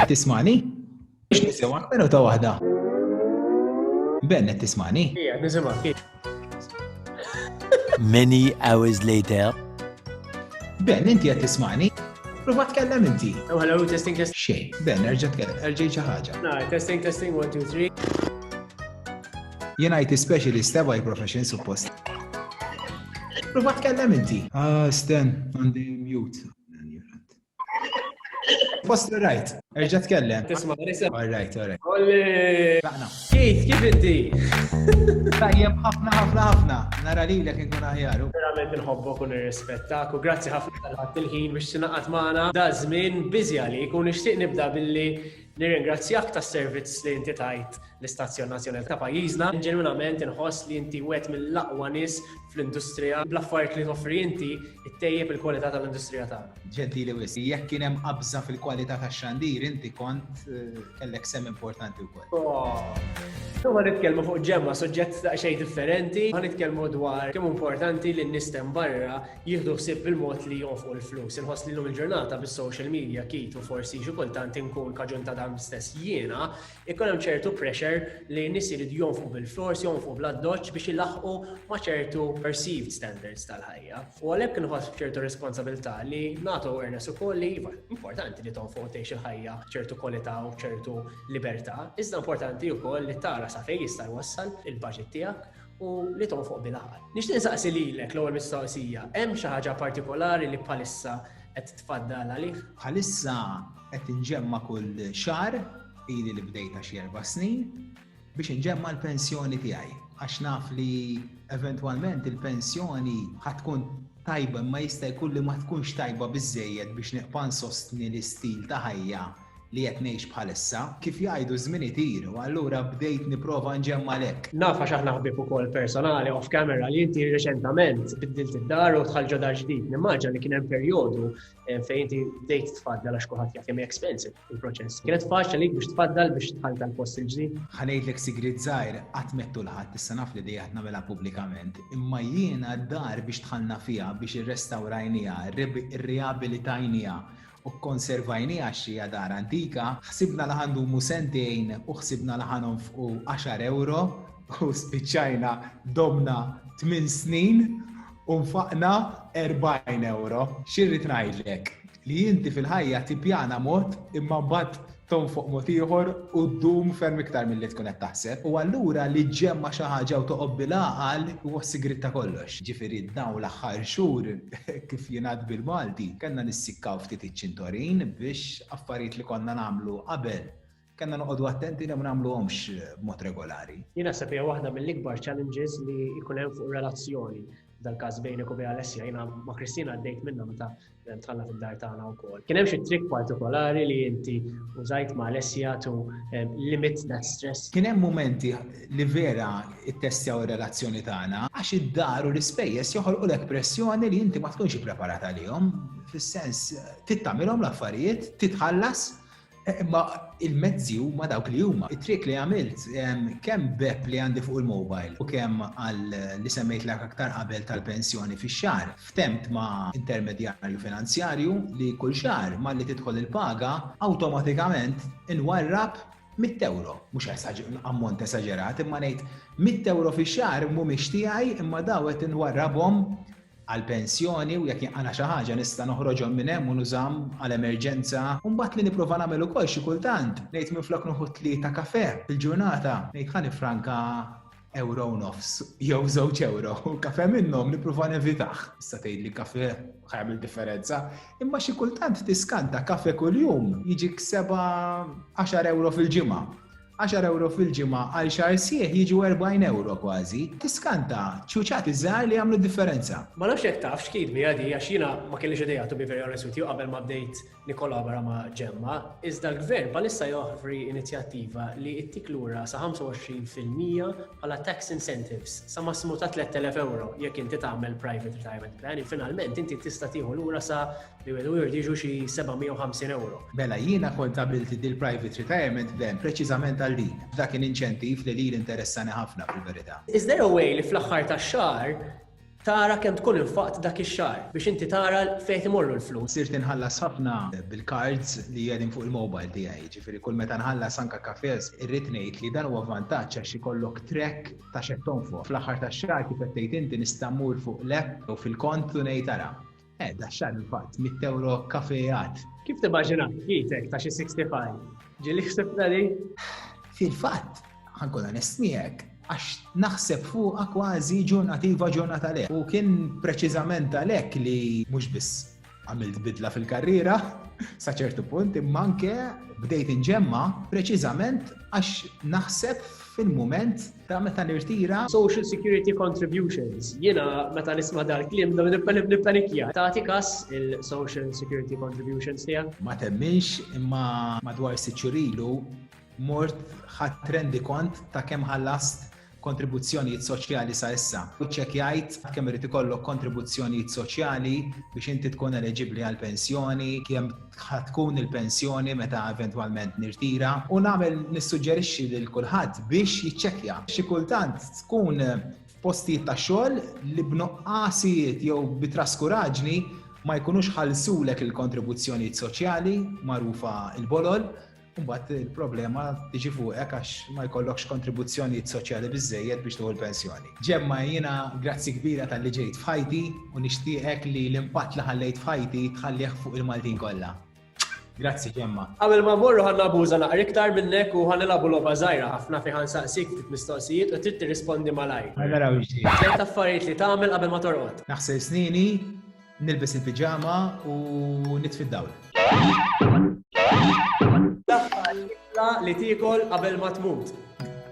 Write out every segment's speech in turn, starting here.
Tismani? Biex nisimgħek minu ta' waħda. Ben qed tismani? Ija, nisimgħek. Many hours later. Ben, inti qed tismani? Prova tkellem inti. Oh, hello, testing, testing. Xej, ben, erġa tkellem, erġa xi ħaġa. No, testing, testing, one, two, three. Jien IT specialist, ewa hi profession suppost. Prova tkellem inti. Ah, Sten, għandi mute. Post right, erġa tkellem. Tisma, nisem. All right, all right. Olli! Laqna. Kif, kif inti? Tajjem ħafna, ħafna, ħafna. Nara li l-ek nkun aħjaru. Verament nħobbok u nirrispettak u grazzi ħafna tal-ħat il-ħin biex tinaqat maħna. Da zmin bizi għalik u nishtiq nibda billi Nirringrazzjak tas-servizz li inti tajt l-Istazzjon Nazzjonali ta' pajjiżna. Ġenwinament inħoss li inti wieħed mill-aqwa nies fl-industrija. Bl-affarijiet li toffri inti, ittejjeb il-kwalità tal-industrija tagħna. Ġentili wisq. Jekk kien hemm qabża fil-kwalità tax-xandir, inti kont kellek sehem importanti wkoll. Illum ħa nitkellmu fuq ġemma, suġġett daqsxejn differenti. Ħa nitkellmu dwar kemm hu importanti li n-nies t'hemm barra jieħdu ħsieb il-mod li jonfqu l-flus. Inħoss li l-lum il-ġurnata bis-social media kit u forsi xi kultant inkun kaġun ta' dan stess jiena, ikun hemm ċertu pressure li nies irid jonfqu bil-flors, jonfqu bl-addoċ biex ilaħqu ma' ċertu perceived standards tal-ħajja. U għalhekk inħoss ċertu responsabilità li nagħtu awareness ukoll li iva, importanti li tonfoq tgħix il-ħajja ċertu kwalità u ċertu libertà, iżda importanti wkoll li tara sa fejn jista' jwassal il-budget tiegħek u li tonfoq bil-għaqal. Nixtieq insaqsi lilek l-ewwel mistoqsija, hemm xi ħaġa partikolari li bħalissa qed tfaddal għalih? Bħalissa qed inġemma kull xar ili li bdejta xi erba' snin biex inġemma l-pensjoni tiegħi għax naf li eventwalment il-pensjoni ħatkun tajba ma jista' jkun li ma tkunx tajba biżejjed biex neqpan sostni l-istil ta' ħajja li qed ngħix bħalissa. Kif jgħidu ż-żminiet iru, allura bdejt nipprova nġemma' lek. Naf għax aħna ħbieb ukoll personali off camera li inti reċentament biddilt id-dar u dħalt ġo dar ġdid. Nimmaġina li kien hemm perjodu eh, fejn inti bdejt tfaddal għax kulħadd jaf kemm expensive il-proċess. Kienet faċli li biex tfaddal biex tħalt tal-post il-ġdid. Ħanejdlek sigrid żgħir qatt mettu l-ħadd issa naf li dejja nagħmilha pubblikament, imma jiena d-dar biex tħallna fiha biex irrestawrajniha, irriabilitajniha u kkonservajniha x'hija dar antika, ħsibna li ħa ndumu sentejn u ħsibna li ħa nonfqu għaxar ewro u spiċċajna domna tmien snin u nfaqna erbgħin ewro. Xi rrid ngħidlek? Li inti fil-ħajja tippjana mod imma mbagħad Tgħum fuq mod ieħor u ddum ferm iktar milli tkun qed taħseb. U allura li ġġemma' xi ħaġa u toqgħod bil-għaqal huwa s-sigriet ta' kollox. Ġifieri dawn l-aħħar xhur, kif jingħad bil-Malti, kellna nissikkaw ftit iċ-ċintorin biex affarijiet li konna nagħmlu qabel kellna noqogħdu attenti li ma nagħmluhomx b'mod regolari. Jien naħseb hija waħda mill-ikbar challenges li jkun hemm fuq relazzjoni, f'dal-każ bejnek u bejn Alessia. Jiena ma' Christine għaddejt minnha meta tħalla fid-dar tagħna wkoll. Kien hemm xi trik partikolari li inti użajt ma' Alessia to um, limit that stress. Kien hemm momenti li vera ittestjaw ir-relazzjoni tagħna għax id-dar u l-ispejjeż joħolqulek pressjoni li inti ma tkunx ippreparat għalihom, fis-sens tittamilhom l-affarijiet, titħallas Eh, ma il-mezzi huma dawk li huma. It-trick li għamilt kemm bep li għandi fuq il-mobile u kemm għal li semmejt l aktar qabel tal-pensjoni fi xar ftemt ma' intermedjarju finanzjarju li kull xar ma li tidħol il-paga awtomatikament inwarrab 100 euro, mux ammont esagerat, imma nejt 100 euro fi xar mumiex tijaj imma dawet inwarrabom għall-pensjoni u jekk jinqala' xi ħaġa nista' noħroġhom minn hemm u nużahom għal emerġenza. U mbagħad li nipprova nagħmel ukoll xi kultant, ngħid minflok noħu tlieta kafè fil-ġurnata, ngħid ħa niffranka ewro u nofs jew żewġ ewro, kafè minnhom nipprova nevitah. Issa tgħidli kafè ħa jagħmel differenza, imma xi kultant tiskanta kafè kuljum jiġik seba' għaxar ewro fil-ġimgħa. Għaxar ewro fil-ġimgħa għal xahar sħiħ jiġu erbgħin ewro kważi. Tiskanta, ċuċati żgħar li jagħmlu d-differenza. Ma nafx jekk taf x'kid miha di għax jiena ma kellix idea to be very honest with you qabel ma bdejt nikkolabora ma' Ġemma, iżda l-Gvern bħalissa joħfri inizjattiva li ittik lura sa 25 fil-mija bħala tax incentives sa massimu ta' 3,000 ewro jekk inti tagħmel private retirement plan, finalment inti tista' tieħu lura sa li minn Word jiġu xi 750 ewro. Mela jiena kont għamilt din il-Private Retirement Plan preċiżament għal din. F'dak kien inċentiv li lili interessani ħafna fil-verità. Is there a way li fl-aħħar tax-xahar tara kemm tkun infaqt dak ix-xahar biex inti tara fejn qed imorru l-flus? Sirt inħallas ħafna bil-cards li qegħdin fuq il-mobile tiegħi, jiġifieri kull meta nħallas anke cafes, irrid ngħid li dan huwa vantaġġ għax ikollok track ta' x'qed tonfoq. Fl-aħħar tax-xahar kif qed tgħid inti nista' mmur fuq l-app jew fil-kont u ngħid ara, Eh, daxxan il-fatt, mitt euro kafe għad. Kif timmaġina jitek ta' xi 65? Ġili ħsibna li? Fil-fatt, ħankun onest miegħek, għax naħseb fuqa kważi ġurnativa ġurnata le. U kien preċiżament għalhekk li mhux biss għamilt bidla fil-karriera sa ċertu punt, imma anke bdejt inġemma preċiżament għax naħseb fil-moment Ta' meta nirtira. Social Security Contributions. Jiena meta nisma' dal-kliem nippanikja. Tagħti kas il-Social Security Contributions tiegħek? Ma temminx imma madwar sitt xhur ilu mort ħadt rendikont ta' kemm ħallast kontribuzzjonijiet soċjali sa issa. Iċċekkjajt kemm irid ikollok kontribuzzjonijiet soċjali biex inti tkun eleġibbli għall-pensjoni, kemm ħa tkun il-pensjoni meta eventwalment nirtira u nagħmel nissuġġerixxi lil kulħadd biex jiċċekkja. Xi kultant tkun postijiet ta' xogħol li b'noqqasijiet jew bi traskuraġni ma jkunux ħalsulek il-kontribuzzjonijiet soċjali magħrufa il-bolol Mbagħad il-problema tiġi fuqek għax ma jkollokx kontribuzzjonijiet soċjali biżejjed biex tuħu l-pensjoni. Ġemma jiena grazzi kbira tal-li ġejt f'ħajti u nixtieqek li l-impatt li ħallejt f'ħajti tħallih fuq il-Maltin kollha. Grazzi Ġemma. Qabel ma morru ħan nabuża naqra iktar minnek u ħan nilagħbu logħba żgħira ħafna fi ħan saqsik ftit mistoqsijiet u trid tirrispondi malajr. Naraw ġdid. Tliet affarijiet li tagħmel qabel ma torqod. Naħsel snini, Nilbes il-piġama u nitfi d-dawl. L-aħħar ikla li tiekol qabel ma tmut.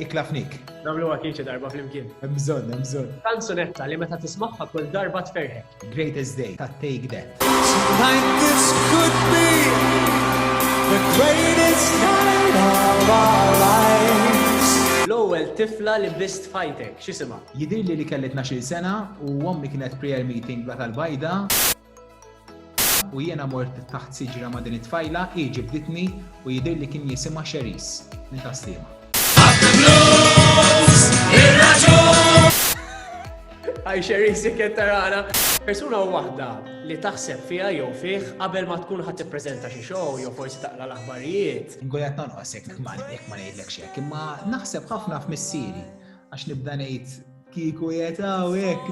Ikla fnik. Namlu għakiċi darba fl-imkien. Mżon, mżon. Kanzunetta li meta tismaħħa kull darba tferħek. Greatest Day ta' Take That. Tonight this could be the greatest night of our lives. L-ewwel tifla li bist fajtek, x'isima? Jidhirli li kelli tnax-il sena u ommi kienet prayer meeting bla tal-bajda u jiena mort taħt siġra ma' din it-tfajla, hi ġibditni u jidhirli kien jisimha Cherise minn ta' Sliema. Hi Cherise jekk qed tarana. Persuna waħda li taħseb fiha jew fih qabel ma tkun ħadd tippreżenta xi show jew forsi taqra l-aħbarijiet. Inkun qed nonqos jekk ma ngħidlekx hekk, imma naħseb ħafna f'missieri. Għax nibda ngħid kieku jetaw hekk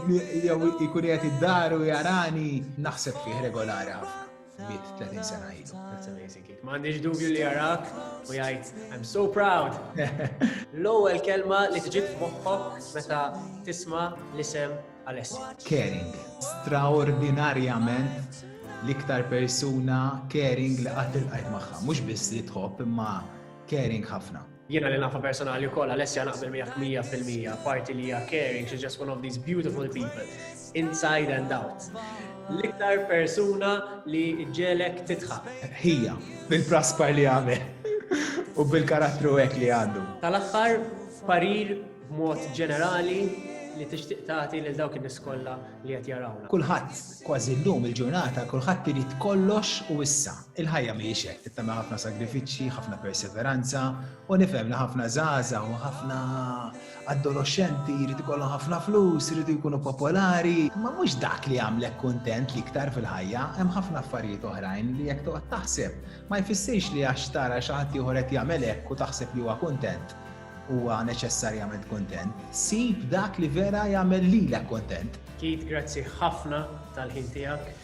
jew ikun qed id-dar u jarani naħseb fih regolari ħafna. Mit 30 sena ilu. That's amazing kid. Ma għandix dubju li jarak u jgħid I'm so proud. L-ewwel kelma li tġib f'moħħok meta tisma' l-isem Alessi. Caring. Straordinarjament l-iktar persuna caring li qatt il-qajt magħha. Mhux biss li tħobb imma caring ħafna. Jiena li nafa personali u koll, Alessia naqbel 100% parti li hija caring, she's just one of these beautiful people, inside and out. L-iktar persuna li ġelek titħa. Hija, bil-praspar li għamel u bil-karattru hekk li għandu. Tal-aħħar parir mod ġenerali li tixtieq tagħti lil dawk in-nies kollha li qed jarawna. Kulħadd kważi llum il-ġurnata kulħadd irid kollox u issa. Il-ħajja mhijiex hekk, tittama ħafna sagrifiċċji, ħafna perseveranza, u nifhem li ħafna żgħażagħ u ħafna adolescenti jridu jkollhom ħafna flus, jridu jkunu popolari, ma mhux dak li jagħmlek kuntent li iktar fil-ħajja, hemm ħafna affarijiet oħrajn li jekk toqgħod taħseb ma jfissirx li għax tara xi ħadd ieħor qed jagħmel hekk u taħseb li huwa kuntent huwa neċessarjament kontent, sib dak li vera jagħmel lilek kontent. Keith, grazzi ħafna tal-ħin tiegħek.